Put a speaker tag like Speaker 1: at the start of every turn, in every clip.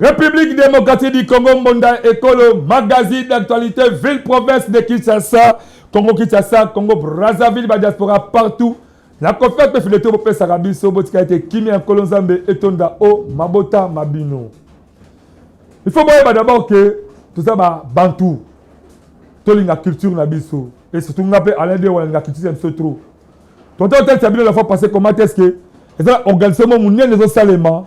Speaker 1: République démocratique du Congo Mbonda Ekolo, magazine d'actualité, ville-province de Kinshasa, Congo-Kinshasa, Congo-Brazzaville, la diaspora partout. Na kofi pe fileto bopesaka biso botika ete kimia ya nkolo nzambe etonda o mabota ma bino il faut boyeba d'abord ke toza babantu tolinga culture na biso e surtout nga mpe alain de walinga culture ya biso trop tonta otalisa bino la fois passé comment est ce que eza organisation monene ezosalema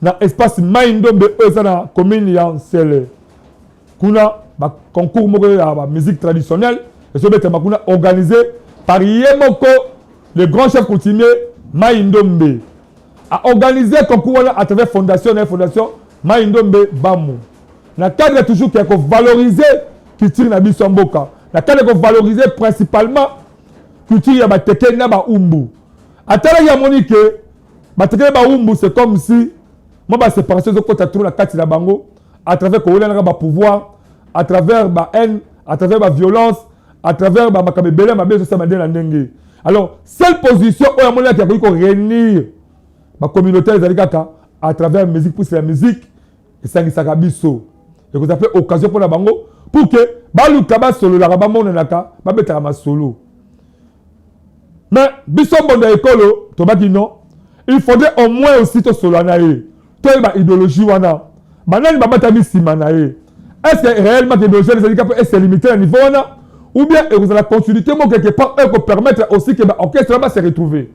Speaker 1: na espace mai ndombe oyo eza na commune ya nsele kuna ba concours moko ya ba musique traditionnelle ezobetama kuna organisé par ye moko le grand chef coutumier mai ndombe aorganise concours wana à travers fondation na ye fondation mai ndombe bamu na cadre toujours ya kovalorize culture na biso ya mboka na cadre ya kovalorize principalement culture ya bateke na baumbu atalaki amoni ke bateke na baumbu c'est comme si mwa baséparation ezokota trop na kati na bango à travers kowelanaka ba pouvoir à travers ba haine à travers ba violence à travers ba makambo ebele ya mabe ezosala nde na ndenge alors seule position oyo amonaki akoki korenir bacommunauté ezali kaka à travers musique pusi ya musique esangisaka biso ekozala mpe occasion mpo na bango pour ke baluka basololaka bamonanaka babetaka masolo mais biso mbondo ya ekolo tobaki non il faudrait au moins aussi tosolola na ye toyeba idéologie wana banani babatami nsima na ye est ce que réellement que idéologie wana ezali kaka ese limité na niveau wana ou bien ekozala continuité moko quelque part oyo ekopermettre aussi ke baorchestre wana base retrouver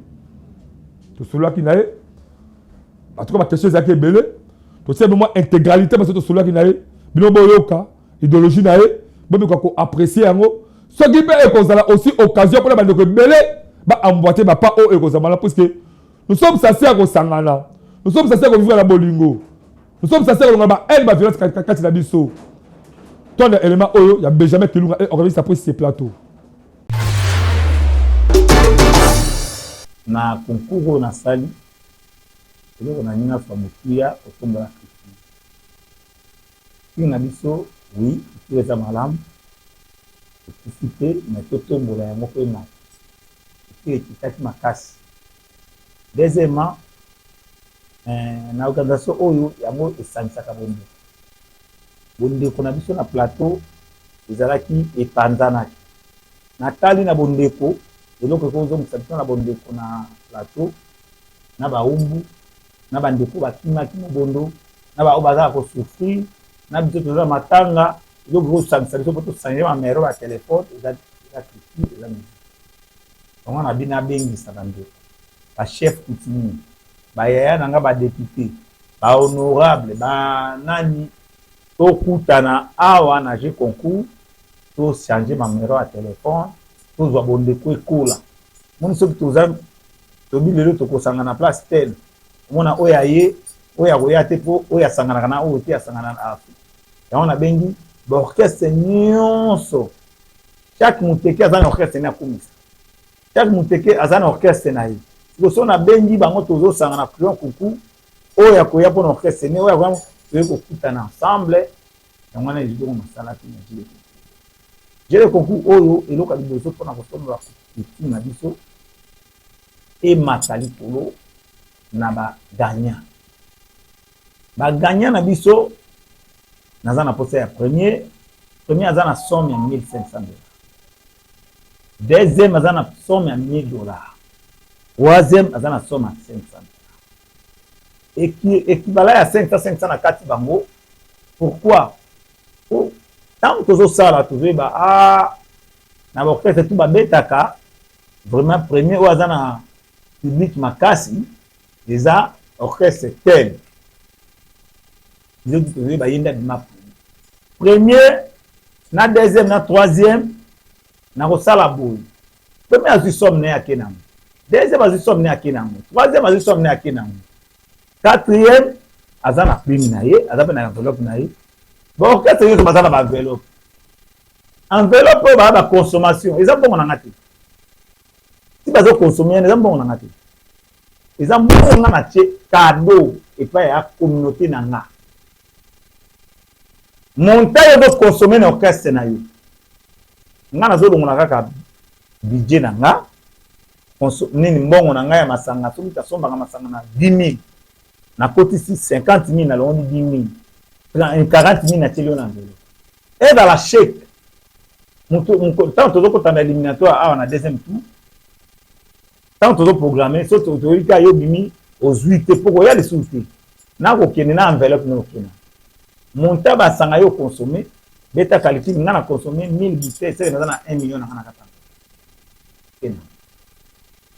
Speaker 1: tosololaki na ye en tout cas baquestion ezalaki ebele totiaki mwa intégralité parce que tosololaki na ye bino boyoka ideologie na ye bomekoka koapprécie yango soki mpe ekozala aussi occasion mpona bandeko ebele baamboite bapa oyo oh, ekozala malamu puiske nous sommes sase ya kosangana nous sommes sase ya kovivre na bolingo nous sommes sase ya kolonga bahaine baviolence kati na biso tonda élément oyo ya benjamin kilunga e organise apres se plateau
Speaker 2: na concours oyo nasali eloko na nini afa motuya otombola Kin na biso oui culture eza malamu ekufi te mais totombola yango pe na culture ekitaki makasi deuxiement na organisation oyo yango esangisaka bondeko bondeko na biso na plateau ezalaki epanzanaki na tali na bondeko eloko ekozongisa biso na bondeko na plateau na baumbu na ba ndeko bakimaki mobondo na ba oyo baza ko souffrir na biso toza matanga eloko bosangisa biso po tosangisa ba mero ba telefone eza eza culture eza musique yango na bino abengisa ba ndeko ba chef coutumier ba yaya na nga ba depute ba honorable ba nani tokutana awa na jeu concours tochange mamero ya telefone tozwa bondeko ekola moni soki toza tobi lelo tokosanga na place tele omona oyo aye oyo akoya te mpo oyo asanganaka na oyo te asangana na afrika yango nabengi baorchestre nyonso chaque moteke aza na orchestre ne akumisa chaque moteke aza na orchestre na ye liboso nabengi bango tozosanga na prion kuku oyo akoya mpo na orchestre ne oyo akoya toye kokutana ensemble yango wana ezo koma masala te na jele jele concours oyo eloka liboso mpona kosombra etude na biso emata likolo na ba gagnant ba gagnant na biso naza na posa ya premier premier aza na somme ya 1500 dollars deuxième aza na somme ya 1000 dollars troisième aza na somme ya 500 ekibala ya 500 500 na kati bango pourquoi po ntango tozosala tozoyeba a ah, na baorchestre tu babetaka vraiment premier oyo aza na public makasi eza orchestre tel biso tozoyeba ye nde abima premier na deuxième na troisième nakosala boye Premier azwi somme naye ake nango. Deuxième azwi somme naye ake nango. Troisième azwi somme naye ake nango. Quatrième aza na prime na ye, aza mpe na enveloppe na ye. Ba orchestre nyonso baza na ba enveloppe. Enveloppe oyo baa ba consommation eza mbongo na nga te. Ti bazo consommer eza mbongo na nga te. eza moko nga na tie kado epai ya communauté na nga montagne ozo consommer na orchestre na yo nga nazolongola kaka budget na nga nini mbongo na ngai ya masanga soki tasombaka masanga na 10 000 nakotisi 50 000 nalongoli 10 000 40 000 natieli yo na nzela ezala sheke ntango tozokotanda eliminatoire awa na deuxième tour ntango tozo programme so toyebi ka yo bimi ozwi te mpo koya lisusu te nakokende na enveloppe na okena monta basanga yo consomme beta calcul nga na consomme 1000 bouteille seke naza na 1 million nanga na katanga kena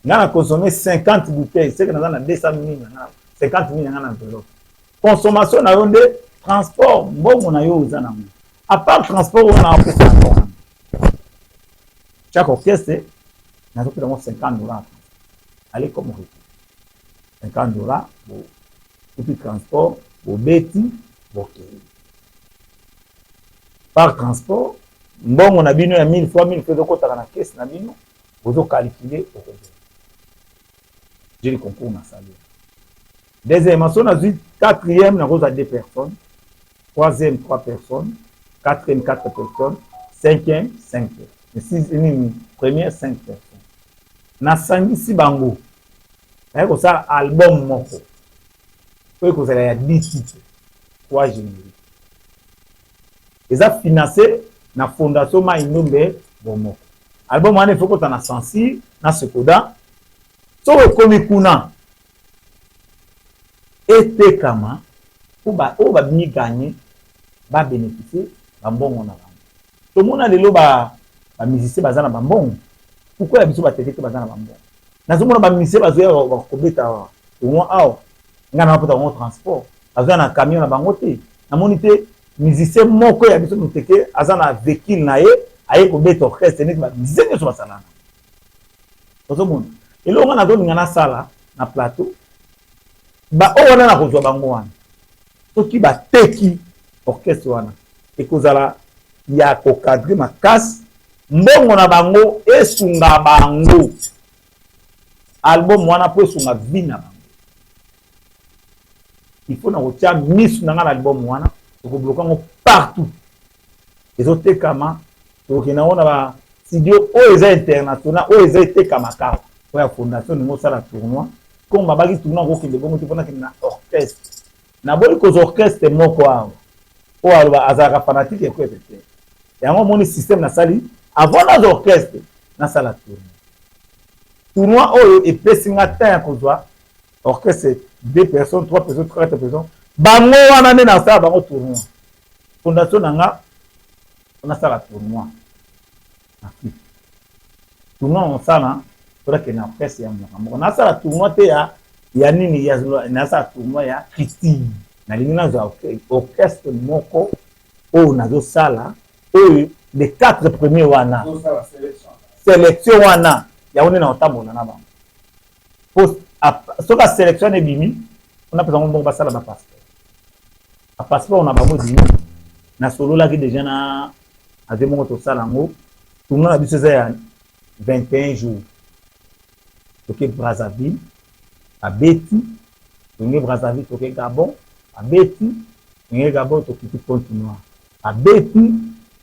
Speaker 2: nga na consomme 50 bouteille seke naza na 200 mille nanga 50 mille nanga na enveloppe consommation na yo nde transport mbongo na yo oza nango apart transport wana apesa Chaque orchestre, nazo pesa ngo 50 dollars. Allez comme vous. 50 dollars, bo kutu transport, bo beti, bo kei. Par transport, mbongo na bino ya 1000 fois 1000 fois ezokotaka na caisse na bino, bozo calculer okozela. Je le concours na salaire. Deuxièmement, si on a vu quatrième, na koza deux personnes, Troisième, trois personnes. Quatrième, quatre personnes. Cinquième, cinq personnes. Première, cinq personnes. nasangisi bango naye kosala album moko oyo ekozala ya dcc kwa generi eza finance na fondation mai ndombe bomoko album wana efo kota na sensi na sekoda Soki okomi kuna, etekama mpo baoyo babimi ganye ba beneficie bambongo na bango. Tomona lelo ba ba musiciens baza na bambongo, pourquoi ya biso bateke te baza na bambongo? Nazomona ba musiciens bazoya bakobeta tournoi awa, ngai napota bango transport, bazoya na camion na bango te, namoni te musicien moko ya biso muteke aza na vehicule na ye aye kobeta orchestre neti ba musiciens nionso basalana. ozomona eloko nga nazolinga nasala na plateau baoyo wana nakozwa bango wana soki bateki orchestre wana ekozala ya kokadre makasi mbongo na bango esunga bango album wana mpo esunga vi na bango il faut na kotya misu na ngai na album wana tokobloka yango partout ezotekama tokoki nango na ba studio oyo eza international oyo eza etekama kaka oyo ya fondation olingi osala tournoi comme babaki tournoi okokende bongo te mpona kende na orchestre naboyi kozwa orchestre moko awa oyo aloba azalaka fanatike ya kwete te yango omoni systeme nasali avant nazwa orchestre nasala tournoi tournoi oyo epesi nga temps ya kozwa orchestre deux personnes trois personnes quatre personnes bango wana nde nasala bango tournoi fondation na nga mpo nasala tournoi na afrique tournoi mosala mpo nakende na presse ya mboka moko nasala tournoi te ya ya nini ya nasala tournoi ya christine nalingi nazwa orchestre moko oyo nazosala oyo les quatre premiers wana selection wana yango nde nakotambola na bango po soki aselection wana ebimi mpona mpeza ngo mbongo basala bapasseport ba passeport na bango ezali nini nasololaki deja na ave moko tosala yango tournoi na biso eza ya 21 jours toke brazzaville abeti tolingi brazzaville toke gabon abeti tolingi gabon tokiti pointe noir abeti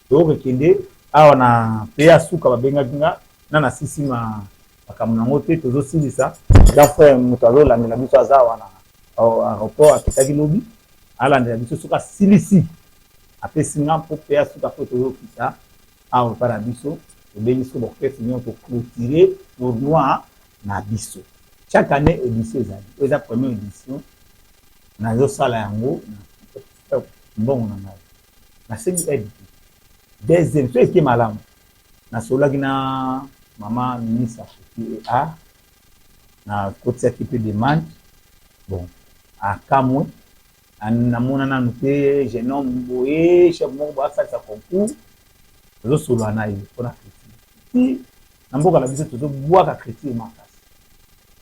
Speaker 2: tokokende awa na pe ya suka babengaki nga na nasisi ma makambo na yango te tozo silisa grand frère moto azo landela biso aza wana aeroport akitaki lobi alandela biso soki asilisi apesi nga mpo mpe asuka mpo toyokisa awa epai na biso tobengi soki baorchestre nyonso toclotire tournoi na biso chaque année édition ezali oyo eza première édition nazosala yango mbongo na ngai nasengi aide te deuxième soki eke malamu Nasololaki na mama ministre akoki a nakotisaki mpe demande bon akamwe namona nanu te jeune homme boye chef moko boye asalisa concours tozosolola na ye mpona critique ti na mboka na biso tozobwaka critique makasi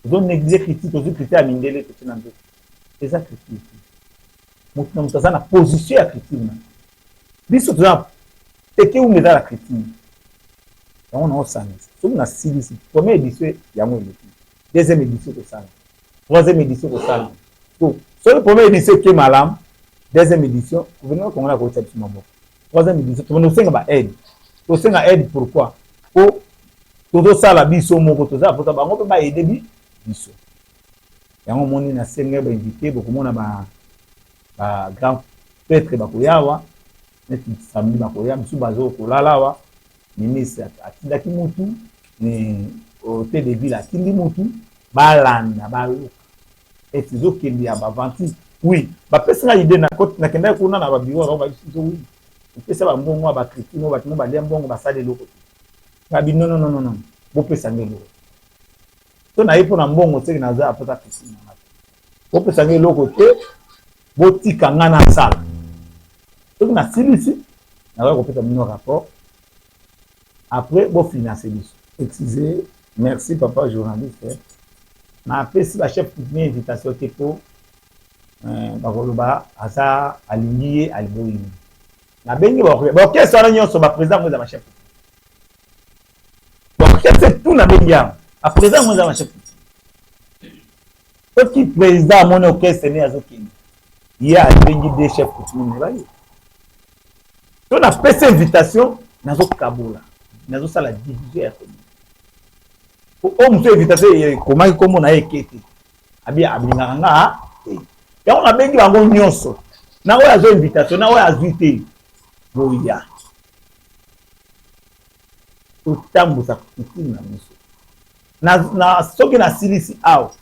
Speaker 2: tozonéglige critique tozwi critique ya mindele totie na nzoto eza critique te moto na moto aza na position ya critique na biso toza teke ume eza la criture yango nao sangisa soki nasilisi première édition yango eleki deuxième édition kosala troisième édition kosala po soki première édition eke malamu deuxième édition gouvernement congolais akotisa biso maboko troisième édition tobanda kosenga ba aide tosenga aide pourquoi po tozosala biso moko toza mpota bango mpe baede biso yango omoni na sengai ba invité bokomona ba ba grand prêtre bakoya awa neti samedi bakoya misusu bazo kolala awa ministre atindaki mutu hotel de ville atindi mutu balanda bayoka esi ezokende ya baventis oui bapesi nga idée nakendaki kuna na babiro yango bayebisi biso oui opesa bambongo ya bakritino bato mo balia mbongo basala eloko te ngabi nonononono bopesa nge eloko to na ye mpo na mbongo seke naza apesa piscine na ngai bopesa ngai eloko te botika ngai nasala soki nasilisi nakoki kopesa bino rapport après bofinance biso excuse merci papa journaliste napesi bachef coutumier invitation te mpo eh, bakoloba aza alingi ye aliboyi nabengi baorchestre wana nyonso baprésident yango eza bachef donc chef c'est tout na bengi yango a président yango eza na chef soki président amoni orchestre ne azokende ye abengi de chef coutumier me baye to napesi invitation nazokabola nazosala division ya commune oyo mosu invitation ekomaki nkombo na ye eke te abi ablingaka nga te eh. yango nabengi bango nyonso na oyo azwa invitation na oyo azwi te boya totambusa kutime na biso na, na soki nasilisi awa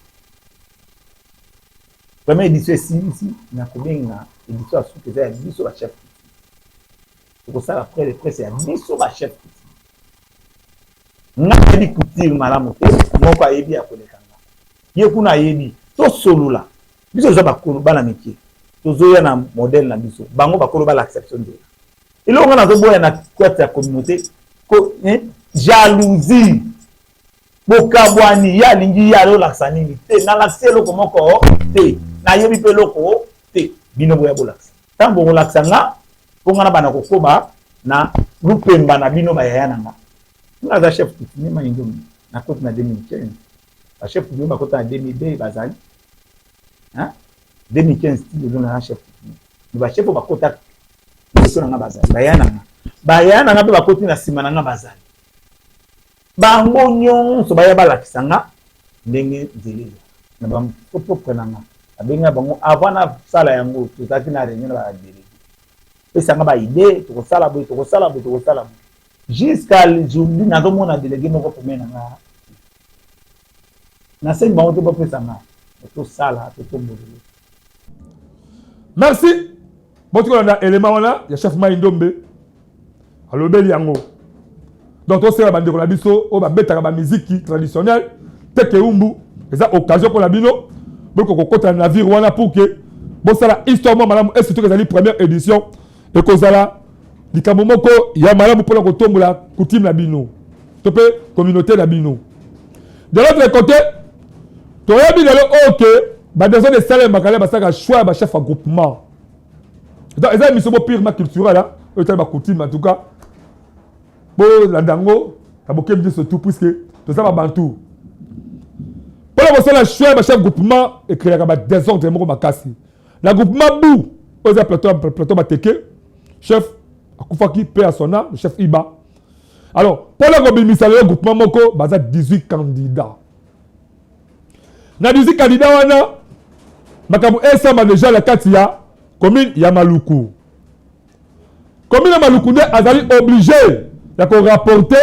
Speaker 2: première édition esilisi nakobenga édition ya suka eza ya biso ba chef coutume tokosala près de presse ya biso ba chef coutume nga nayebi couture malamu te moko ayebi ya koleka nga ye kuna ayebi tosolola biso toza bakolo bana mike tozoya na modèle na biso bango bakolo balakisa biso nzela eloko nga nazoboya na kati ya communauté ko eh, jalousie bokabwani ye alingi ye alolakisa nini te nalakisi eloko moko te nayebi mpe eloko te bino boya bolakisa ntango bokolakisa nga mpo nga na bana kokoba na lupemba na bino bayaya na nga nga aza chef kutini maindomi nakoti na 2015 bachef kutini bakota na 2002 bazali 2015 ti lelo na chef kutini me bachef oyo bakotaka liboso na nga bazali baya na nga baya na nga mpe bakoti na nsima na nga bazali bango nyonso baya balakisa nga ndenge nzela ezala na bapropre na nga abenga bango avant nasala yango tozalaki na réunion na badelege pesa nga baide tokosala boye tokosala boye tokosala boye jusqu'à aujourd'hui nazomona delege moko pembe na nga nasengi bango te bapesa nga tosala to tombolele merci
Speaker 1: boti kolanda elema wana ya chef mai ndombe alobeli yango donc tosengela bandeko na biso oyo babetaka bamiziki traditionnel teke umbu eza occasion mpo na bino bokoki kokota na navire wana pour ke bosala histoire mwa malamu et surtout ezali première édition ekozala likambo moko ya malamu mpona kotombola kutime na bino to mpe communauté na bino de l'autre côté toyebi lelo oyo ke badesordre esalemaka le basalaka choix ya bachef ya groupement eza émission bo purement culturel oyo etali bacoutume en tout cas bolanda yango na bokebi nyonso tout puisque toza babantu mpona kosala choix ya bachef groupement ekreaka badesordre moko makasi na groupement bu oyo eza plateau plateau bateke chef akufaki pe ya son âme chef iba alors mpo na kobimisa lelo groupement moko baza 18 candidat na 18 candidat wana makambo esamba deja na kati ya commune ya maluku commune ya maluku nde azali oblige ya korapporte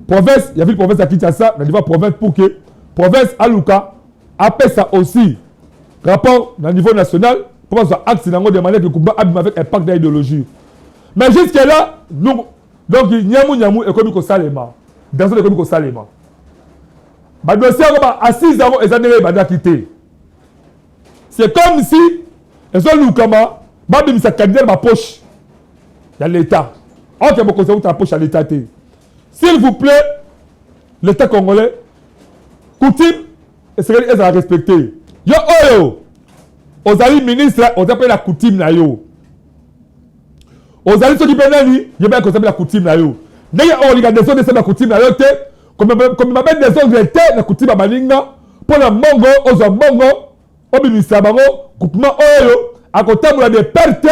Speaker 1: province ya ville province ya kinshasa na niveau province pour que province aluka apesa aussi rapport na niveau national mpo bazwa axe na yango de manière que kumba abima avec impact na idéologie mais jusque là donc nyamu nyamu ekomi kosalema danson ekomi kosalema badosie yango ba assise yango eza ndenge ebandaki te c'est comme si ezolukama babimisa candidat na bapoche ya l'état or ke bokonzi euta na poche ya l'état te s'il vous plaît l'état congolais coutume esengeli ezala respecte yo oyo ozali ministre oza mpe na coutume na yo ozali soki mpe nani ye mpe akosambela kutime na yo ndenge olinga desordre esala kutime na yo te komema mpe desordre te na kutima baninga mpo na mbongo ozwa mbongo obimisa bango groupement oyo akotambola de perte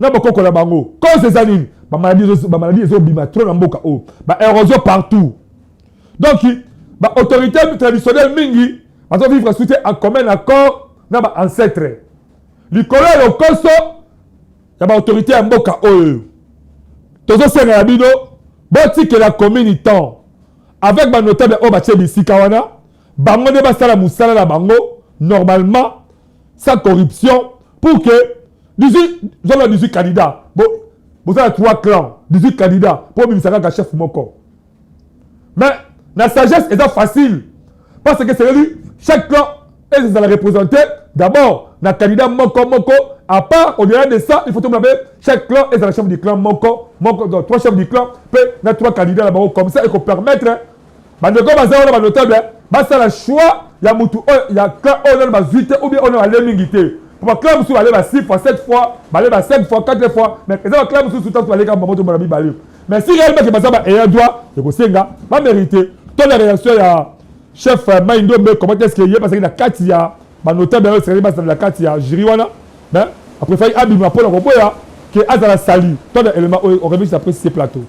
Speaker 1: na bokoko na bango cause eza nini bamaladi ezobima trop na mboka oyo baerosion partout donc baautorité traditionnelle mingi bazovivre soutien en commun accord na baancetre likolo ya lokoso ya baautorité ya mboka oyo tozosenga na bino botikela commune temps avec banotable oyo batye bisika wana bango nde basala mosala na bango normalement sans corruption pour que 18 zolo 18 candidat boza na 3 clan 18 candidat mpo obimisa kaka chef moko mais na sagesse eza facile parce que seleli chaque clan ezala représente d'abord na candidat moko moko à part au delà de ça il faut tomona mpe chaque clan ezala chef du clan moko moko donc trois chefs du clan mpe na trois candidats na bango comme ça ekopermettre bandeko baza wana banotable basala choix ya motu oyo oh, ya clan oyo oh, nano bazwi te ou bien oyo oh, nano bale mingi te po baclan mosusu bale ba 6 fois 7 fois bale ba 5 fois 4 fois mais eza baclan mosusu ntango baleka bango to bana mibale mais si réellement ke baza ba ayant droit ekosenga ba mérite to na réaction ya chef euh, mai ndombe comment est ce que ye bazalaki na kati ya banotable yango esekaki bazala na kati ya jury wana mais apréfaki abima mpo na koboya ke azala sali to na élément oyo orevisi après ce plateau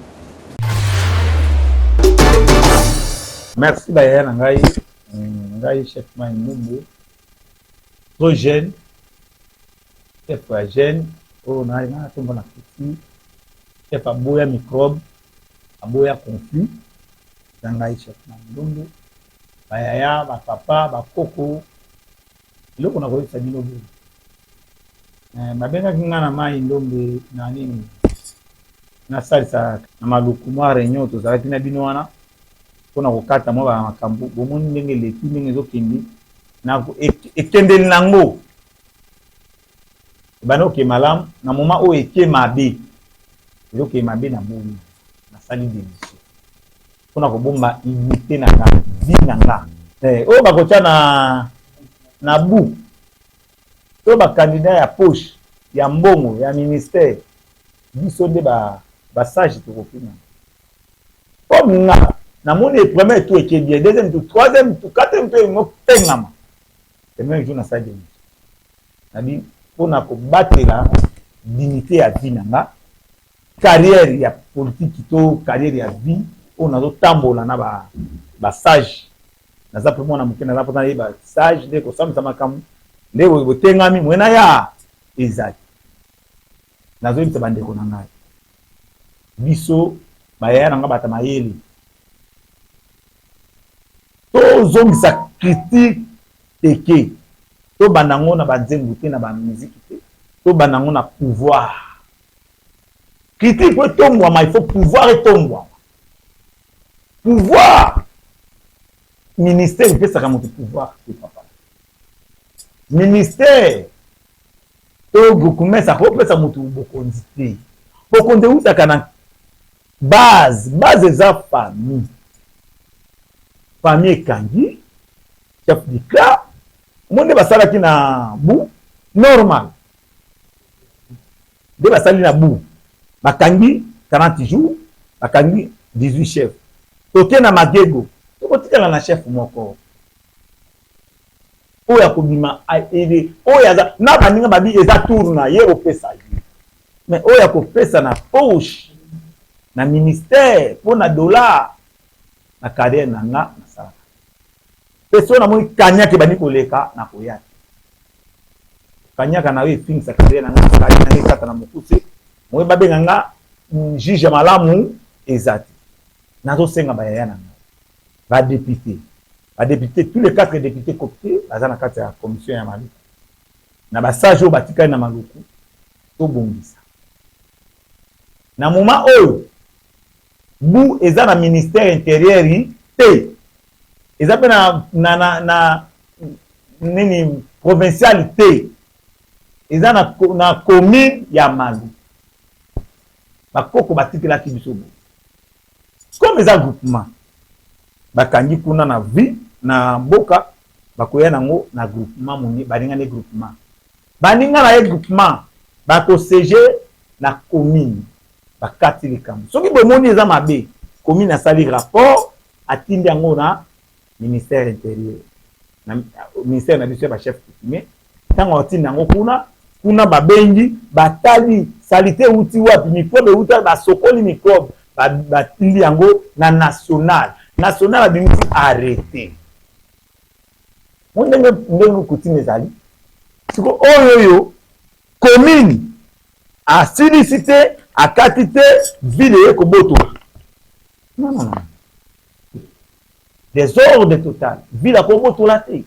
Speaker 2: merci bayaya na ngai ngai chef mai ndumbu trop jeune Steph ya jeune oyo na na tomba na petit Steph aboya microbe aboya conflit na ngai chef na ndongo ba yaya ba papa ba koko eloko na koyebisa bino boye eh, babengaki ngai na mai ndombe na nini nasalisa na maluku mwa reunion tozalaki na bino wana mpo na kokata mwa bamakambo bomoni ndenge eleki ndenge ezokende na ekendeli na yango ebanda oke malamu na moma oyo eke mabe ezoke mabe na boyi nasali demission mpo na kobomba unité na nga vie na nga eh, oyo bakotya na na bu to bakandida ya poche ya mbongo ya ministère biso nde basage tokofina comme nga namoni premier tour eke bien deuxième tour troisième tour quatrième tour emopengama Le même jour nasalaki demission nabi mpo na kobatela dignité ya vie na nga carrière ya politiki to carrière ya vie oyo nazotambola na ba, ba sage naza mpe mwana moke naza mposa nayeba sage nde kosambisa makambo nde botengami mwenaya ezali nazoyebisa bandeko na ngai biso bayaya na ngai bata mayele tozongisa critique teke tobanda yango na banzembo te na bamiziki te tobanda yango na pouvoir critique po etombwama il faut pouvoir etombwama pouvoir ministère epesaka moto pouvoir te papa ministère To Goukoumès akoki kopesa moto bokonzi te. Bokonzi ewutaka na base. Base eza famille. Famille ekangi chef du clan. Omoni nde basalaki na bu normal. Nde basali na bu. Bakangi 40 jours, bakangi 18 chef. Toke na magego, tokotikala na chef moko. oyo akobima aide oyo aza na baninga babi eza tour na ye bopesa ye mais oyo akopesa na poche na ministère mpo na dollar na carrière na nga nasalaka mpe so namoni kanyaka ebandi koleka nakoya te kanyaka na yo efingisa carrière na nga nakali na nga ekata na mokuse moye babenga nga juge ya malamu eza te nazosenga bayaya na nga Ba deputes ba deputes tous les quatre deputes coptes baza na kati ya commission ya maluku na ba sages oyo batikali na maluku tobongisa na moma oyo bu eza na ministère interieur te eza mpe na, na, na, na nini provinciale te eza na, na commune ya malu bakoko batikelaki biso boye comme eza groupement bakangi kuna na vie na mboka bakoya nango na groupement moni baninga nde groupement baninga na ye groupement bakosege na commune bakati likambo soki bomoni eza mabe commune asali rapport atindi yango na ministère interieur na ministère na biso ya ba chef coutumier ntango akotinda yango kuna kuna babengi batali salite euti wapi mikrobe euti wapi basokoli mikrobe batindi yango na national national abimisi arrete mo ndenge ndenge coutume ezali siko oyo oyo commune asilisi te akati te ville eye kobotola non non non Desordre total. Ville akobotola te.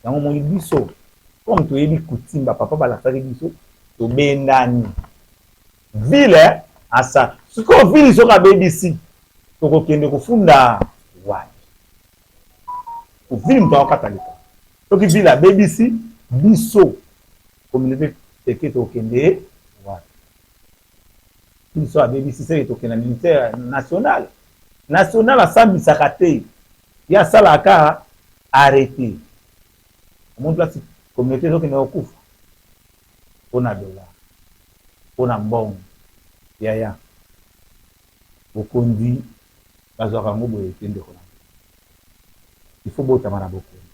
Speaker 2: Yango omoni biso comme toyebi coutume ba papa balakisaki biso tobendani. Ville asa sikoyo ville soki abebisi tokokende kofunda wapi? Ville moto akokata leta soki ville abebisi biso communauté teke tokokende Biso abebisi seke tokenda militaire national national asambisaka te ye asalaka kaka arrete omoni place communauté ezokende kokufa mpo na dollar mpo na mbongo yaya bokonzi bazwaka yango boye te ndeko na il faut botama na bokonzi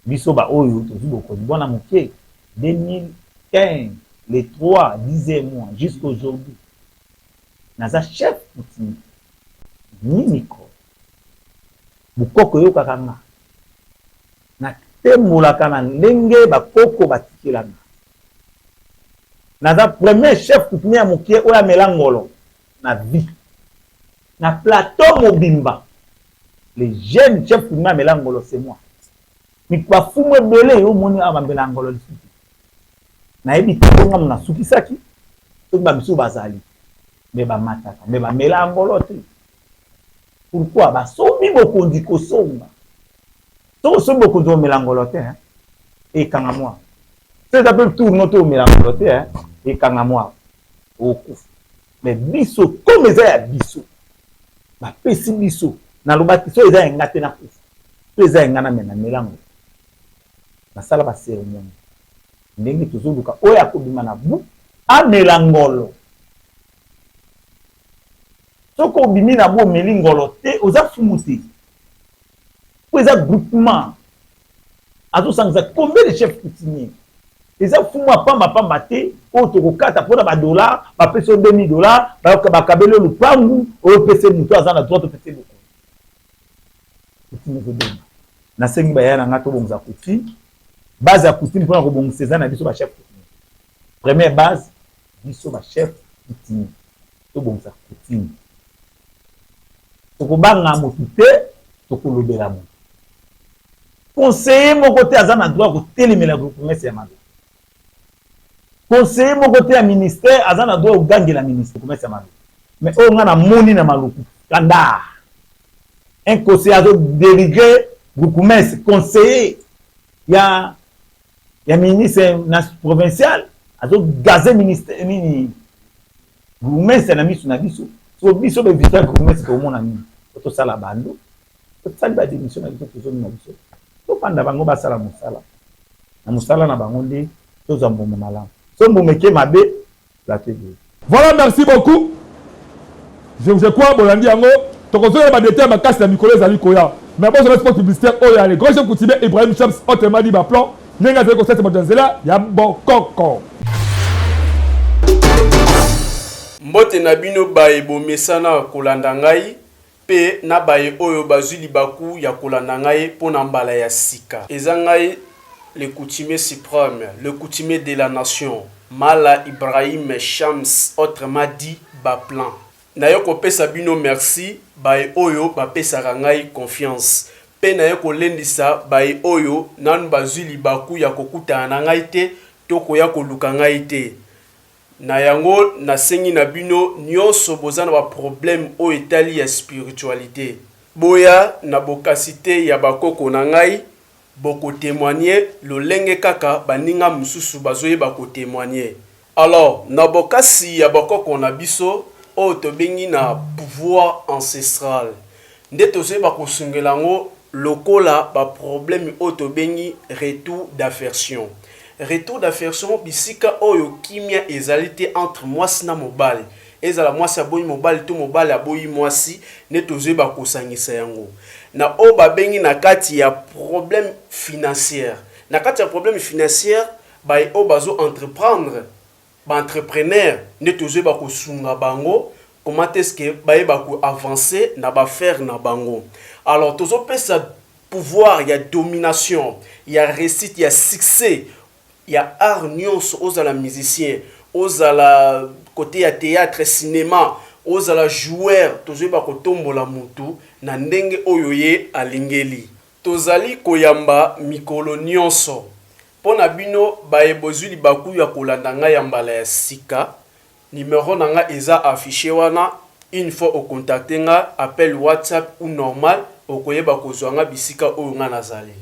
Speaker 2: Biso ba oyo tozui bokonzi bwana muke 2015 le 3 10 mois jusqu'à aujourd'hui naza chef coutumier ni micro bukoko eyokaka nga na tembolaka na ndenge bakoko batikela nga naza premier chef coutumier ya muke oyo amela ngolo na vie na plateau mobimba le jeune chef kuninga amela ngolo c'est moi mik ba fumu ebele yo moni awa bambela ngolo lisusu nayebi te bonga mona sukisaki soki ba misusu bazali me bamataka me bamela angolo te pourkui basombi bokonzi kosomba soki osombi bokonzi omela ngolo te ekanga mwa so eza mpe tour no to omela ngolo te ekanga mwa Okokufa mais biso comme eza ya biso bapesi biso nalobaki soki eza ya nga te nakufa soki eza ya nga na mema mela ngo nasala ba ceremoni ndenge tozoluka oyo akobima na bu amela ngolo soki obimi na bu omeli ngolo te oza fumu te po eza groupement azosangisa combien de chef coutumier eza fumu ya pamba pamba te oyo tokokata mpona badollar bapesi yo 2000 dollar bakabeli yo lupangu oyo pese moto aza na droit topesi bokoni coutume ezobonga nasengi baya na ngai tobongisa coutume base ya coutume mpona kobongisa eza na biso bachef Première base, biso ba chef coutumier tobongisa coutume, tokobanga motu te, tokolobela motu. Conseiller moko te aza na droit ya kotelemela groupemese ya mabe. Conseiller moko te ya ministère aza na droit ya kogangela ministre groupemese ya mabe. Mais oyo nga namoni na maluku kanda un conseiller azo delivrer groupemese conseiller ya ya ministre na provincial azo gaze ministre nini gourmestre na misu na biso so biso be victoire gourmestre tomona nini po tosala bando tosali ba démission na biso tozongi na biso tofanda bango basala mosala na mosala na bango nde tozwa mbuma malamu so mbuma eke mabe plaquer boye. Voilà merci beaucoup
Speaker 1: je je crois bolandi yango tokozonga ba details makasi na mikolo ezali koya mais bozala spot publicitaire oyo ya le grand chef coutumier Ibrahim Shams autrement dit ba plan ndenge azali kosalisa bato ya nzela ya bokoko
Speaker 3: Mbote na bino baye bomesana kolanda ngai. Mpe na baye oyo bazwi libaku ya kolanda ngai mpo na mbala ya sika. Eza ngai le coutumier supreme, le coutumier de la nation, Mala Ibrahim Shams autrement dit Baplan. Naye kopesa bino merci baye oyo bapesaka ngai confiance mpe naye kolendisa baye oyo nanu bazwi libaku ya kokutana na ngai te to koya koluka ngai te. Na yango na sengi na bino nionso boza na ba problème oyo etali ya spiritualite boya na bokasite ya ba koko na ngai boko temoigne lolenge kaka baninga mususu bazo yeba ko temoigne alors na bokasi ya ba koko na biso oyo tobengi na pouvoir ancestral Nde tozoyeba kosungela yango lokola ba probleme oyo tobengi retour d'aversion. Retour d'aversion bisika oyo kimia ezali te entre mwasi na mobali, ezala mwasi aboyi mobali to mobali aboyi mwasi, nde tozoyeba kosangisa yango na oyo babengi na kati ya probleme financiere. Na kati ya probleme financiere, baye oyo bazo entreprendre Ba entrepreneurs nde tozo yeba ko sunga bango comment est ce que ba yeba ko avancer na ba affaires na bango. Alors tozo pesa pouvoir ya domination, ya reussite, ya succès ya art nionso ozala musicien, ozala cote ya theatre, cinema, ozala joueur tozo yeba ko tombola mutu na ndenge oyo ye alingeli. Tozali koyamba mikolo nionso. Mpo na bino baye bozwi libaku ya kolanda ngai ya mbala ya sika, numero na ngai eza afficher wana, une fois o contacter nga, appel whatsapp ou normal, okoyeba kozwa nga bisika oyo nga nazali.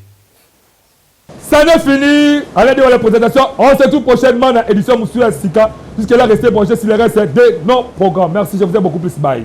Speaker 1: Ça n'est fini Alain Dewale présentation. On se trouve prochainement dans édition Moussou Sika. Jusque là, restez branchés sur les restes de nos programmes. Merci, je vous aime beaucoup plus. Bye.